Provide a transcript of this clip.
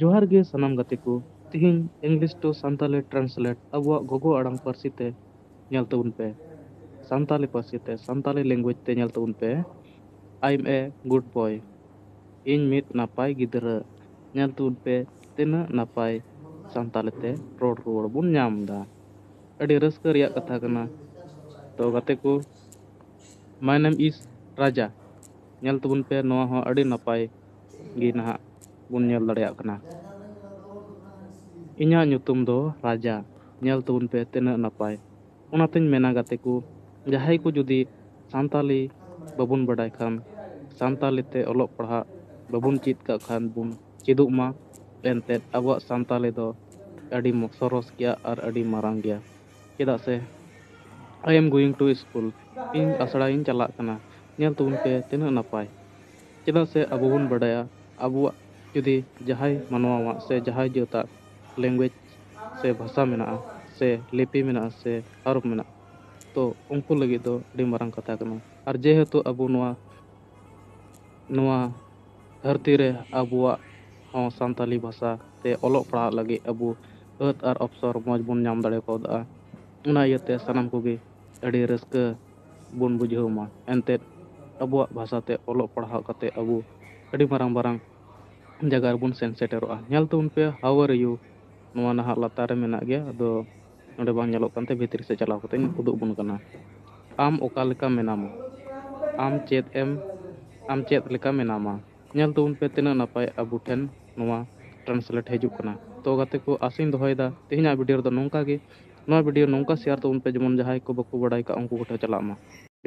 ᱡᱚᱦᱟᱨ ᱜᱮ ᱥᱟᱱᱟᱢ ᱜᱟᱛᱮ ᱠᱚ ᱛᱤᱦᱤᱧ ᱤᱝᱞᱤᱥ ᱴᱩ ᱥᱟᱱᱛᱟᱞᱤ ᱴᱨᱟᱱᱥᱞᱮᱴ ᱟᱵᱚᱣᱟᱜ ᱜᱚᱜᱚ ᱟᱲᱟᱝ ᱯᱟᱹᱨᱥᱤ ᱛᱮ ᱧᱮᱞ ᱛᱟᱵᱚᱱ ᱯᱮ ᱥᱟᱱᱛᱟᱞᱤ ᱯᱟᱹᱨᱥᱤ ᱛᱮ ᱥᱟᱱᱛᱟᱞᱤ ᱞᱮᱝᱜᱩᱭᱮᱡᱽ ᱛᱮ ᱧᱮᱞ ᱛᱟᱵᱚᱱ ᱯᱮ ᱟᱭᱮᱢ ᱮ ᱜᱩᱰ ᱵᱚᱭ ᱤᱧ ᱢᱤᱫ ᱱᱟᱯᱟᱭ ᱜᱤᱫᱽᱨᱟᱹ ᱧᱮᱞ ᱛᱟᱵᱚᱱ ᱯᱮ ᱛᱤᱱᱟᱹᱜ ᱱᱟᱯᱟᱭ ᱥᱟᱱᱛᱟᱞᱤ ᱛᱮ ᱨᱚᱲ ᱨᱩᱣᱟᱹᱲ ᱵᱚᱱ ᱧᱟᱢ ᱮᱫᱟ ᱟᱹᱰᱤ ᱨᱟᱹᱥᱠᱟᱹ ᱨᱮᱭᱟᱜ ᱠᱟᱛᱷᱟ ᱠᱟᱱᱟ ᱛᱚ ᱜᱟᱛᱮ ᱠᱚ ᱢᱟᱭ ᱱᱮᱢ ᱤᱥ ᱨᱟᱡᱟ ᱧᱮᱞ ᱛᱟᱵᱚᱱ ᱯᱮ ᱱᱚᱣᱟ ᱦᱚᱸ ᱟᱹᱰᱤ ᱱᱟᱯᱟᱭ ᱜᱮ ᱱᱟᱦᱟᱜ ᱵᱚᱱ ᱧᱮᱞ ᱫᱟᱲᱮᱭᱟᱜ ᱠᱟᱱᱟ᱾ ᱤᱧᱟᱜ ᱧᱩᱛᱩᱢ ᱫᱚ ᱨᱟᱡᱟ᱾ ᱧᱮᱞ ᱛᱟᱵᱚᱱ ᱯᱮ ᱛᱤᱱᱟᱹᱜ ᱱᱟᱯᱟᱭ᱾ ᱚᱱᱟ ᱛᱮᱧ ᱢᱮᱱᱟ ᱜᱟᱛᱮ ᱠᱚ ᱡᱟᱦᱟᱸᱭ ᱠᱚ ᱡᱩᱫᱤ ᱥᱟᱱᱛᱟᱞᱤ ᱵᱟᱵᱚᱱ ᱵᱟᱰᱟᱭ ᱠᱷᱟᱱ ᱥᱟᱱᱛᱟᱞᱤ ᱛᱮ ᱚᱞᱚᱜ ᱯᱟᱲᱦᱟᱜ ᱵᱟᱵᱚᱱ ᱪᱮᱫ ᱠᱟᱜ ᱠᱷᱟᱱ ᱵᱚᱱ ᱪᱮᱫᱚᱜ ᱢᱟ᱾ ᱮᱱᱛᱮᱫ ᱟᱵᱚᱣᱟᱜ ᱥᱟᱱᱛᱟᱞᱤ ᱫᱚ ᱟᱹᱰᱤ ᱥᱚᱨᱚᱥ ᱜᱮᱭᱟ ᱟᱨ ᱟᱹᱰᱤ ᱢᱟᱨᱟᱝ ᱜᱮᱭᱟ᱾ ᱪᱮᱫᱟᱜ ᱥᱮ I am going to school ᱤᱧ ᱟᱥᱲᱟ ᱤᱧ ᱪᱟᱞᱟᱜ ᱠᱟᱱᱟ᱾ ᱧᱮᱞ ᱛᱟᱵᱚᱱ ᱯᱮ ᱛᱤᱱᱟᱹᱜ ᱱᱟᱯᱟᱭ᱾ ᱪᱮᱫᱟᱜ ᱥᱮ ᱟᱵᱚ ᱵᱚᱱ ᱵᱟᱰᱟᱭᱟ ᱟᱵᱚᱣᱟᱜ ᱡᱩᱫᱤ ᱡᱟᱦᱟᱸᱭ ᱢᱟᱱᱣᱟᱣᱟᱜ ᱥᱮ ᱡᱟᱦᱟᱸᱭ ᱡᱟᱹᱛᱟᱜ ᱞᱮᱝᱜᱩᱭᱮᱡᱽ ᱥᱮ ᱵᱷᱟᱥᱟ ᱢᱮᱱᱟᱜᱼᱟ ᱥᱮ ᱞᱤᱯᱤ ᱢᱮᱱᱟᱜᱼᱟ ᱥᱮ ᱦᱚᱨᱚᱯ ᱢᱮᱱᱟᱜᱼᱟ ᱛᱚ ᱩᱱᱠᱩ ᱞᱟᱹᱜᱤᱫ ᱫᱚ ᱟᱹᱰᱤ ᱢᱟᱨᱟᱝ ᱠᱟᱛᱷᱟ ᱠᱟᱱᱟ ᱟᱨ ᱡᱮᱦᱮᱛᱩ ᱟᱵᱚ ᱱᱚᱣᱟ ᱱᱚᱣᱟ ᱫᱷᱟᱹᱨᱛᱤ ᱨᱮ ᱟᱵᱚᱣᱟᱜ ᱦᱚᱸ ᱥᱟᱱᱛᱟᱞᱤ ᱵᱷᱟᱥᱟ ᱛᱮ ᱚᱞᱚᱜ ᱯᱟᱲᱦᱟᱜ ᱞᱟᱹᱜᱤᱫ ᱟᱵᱚ ᱟᱹᱛ ᱟᱨ ᱚᱯᱥᱚᱨ ᱢᱚᱡᱽ ᱵᱚᱱ ᱧᱟᱢ ᱫᱟᱲᱮ ᱠᱟᱣᱫᱟ ᱚᱱᱟ ᱤᱭᱟᱹᱛᱮ ᱥᱟᱱᱟᱢ ᱠᱚᱜᱮ ᱟᱹᱰᱤ ᱨᱟᱹᱥᱠᱟᱹ ᱵᱚᱱ ᱵᱩᱡᱷᱟᱹᱣ ᱢᱟ ᱮᱱᱛᱮᱫ ᱟᱵᱚᱣᱟᱜ ᱵᱷᱟᱥᱟ ᱛᱮ ᱚᱞᱚᱜ ᱯᱟᱲᱦᱟᱣ ᱠᱟᱛᱮ ᱟᱵᱚ ᱟᱹᱰᱤ ᱢᱟᱨᱟᱝ ᱢᱟᱨᱟᱝ ᱡᱟᱭᱜᱟ ᱨᱮᱵᱚᱱ ᱥᱮᱱ ᱥᱮᱴᱮᱨᱚᱜᱼᱟ ᱧᱮᱞ ᱛᱟᱵᱚᱱ ᱯᱮ ᱦᱟᱣ ᱟᱨ ᱤᱭᱩ ᱱᱚᱣᱟ ᱱᱟᱦᱟᱜ ᱞᱟᱛᱟᱨ ᱨᱮ ᱢᱮᱱᱟᱜ ᱜᱮᱭᱟ ᱟᱫᱚ ᱱᱚᱰᱮ ᱵᱟᱝ ᱧᱮᱞᱚᱜ ᱠᱟᱱᱛᱮ ᱵᱷᱤᱛᱨᱤ ᱥᱮᱫ ᱪᱟᱞᱟᱣ ᱠᱟᱛᱮᱧ ᱩᱫᱩᱜ ᱟᱵᱚᱱ ᱠᱟᱱᱟ ᱟᱢ ᱚᱠᱟ ᱞᱮᱠᱟ ᱢᱮᱱᱟᱢᱟ ᱟᱢ ᱪᱮᱫ ᱮᱢ ᱟᱢ ᱪᱮᱫ ᱞᱮᱠᱟ ᱢᱮᱱᱟᱢᱟ ᱧᱮᱞ ᱛᱟᱵᱚᱱ ᱯᱮ ᱛᱤᱱᱟᱹᱜ ᱱᱟᱯᱟᱭ ᱟᱵᱚ ᱴᱷᱮᱱ ᱱᱚᱣᱟ ᱴᱨᱟᱱᱥᱞᱮᱴ ᱦᱤᱡᱩᱜ ᱠᱟᱱᱟ ᱛᱚ ᱜᱟᱛᱮ ᱠᱚ ᱟᱥᱟᱧ ᱫᱚᱦᱚᱭᱮᱫᱟ ᱛᱮᱦᱮᱧᱟᱜ ᱵᱷᱤᱰᱭᱳ ᱨᱮᱫᱚ ᱱᱚᱝᱠᱟ ᱜᱮ ᱱᱚᱣᱟ ᱵᱷᱤᱰᱤᱭᱳ ᱱᱚᱝᱠᱟ ᱥᱮᱭᱟᱨ ᱛᱟᱵᱚᱱ ᱯᱮ ᱡᱮᱢᱚᱱ ᱡᱟᱦᱟᱸᱭ ᱠᱚ ᱵᱟᱠᱚ ᱵᱟᱰᱟᱭ ᱠᱟᱜ ᱩᱱᱠᱩ ᱠᱚᱴᱷᱮᱱ ᱪᱟᱞᱟᱜ ᱢᱟ᱾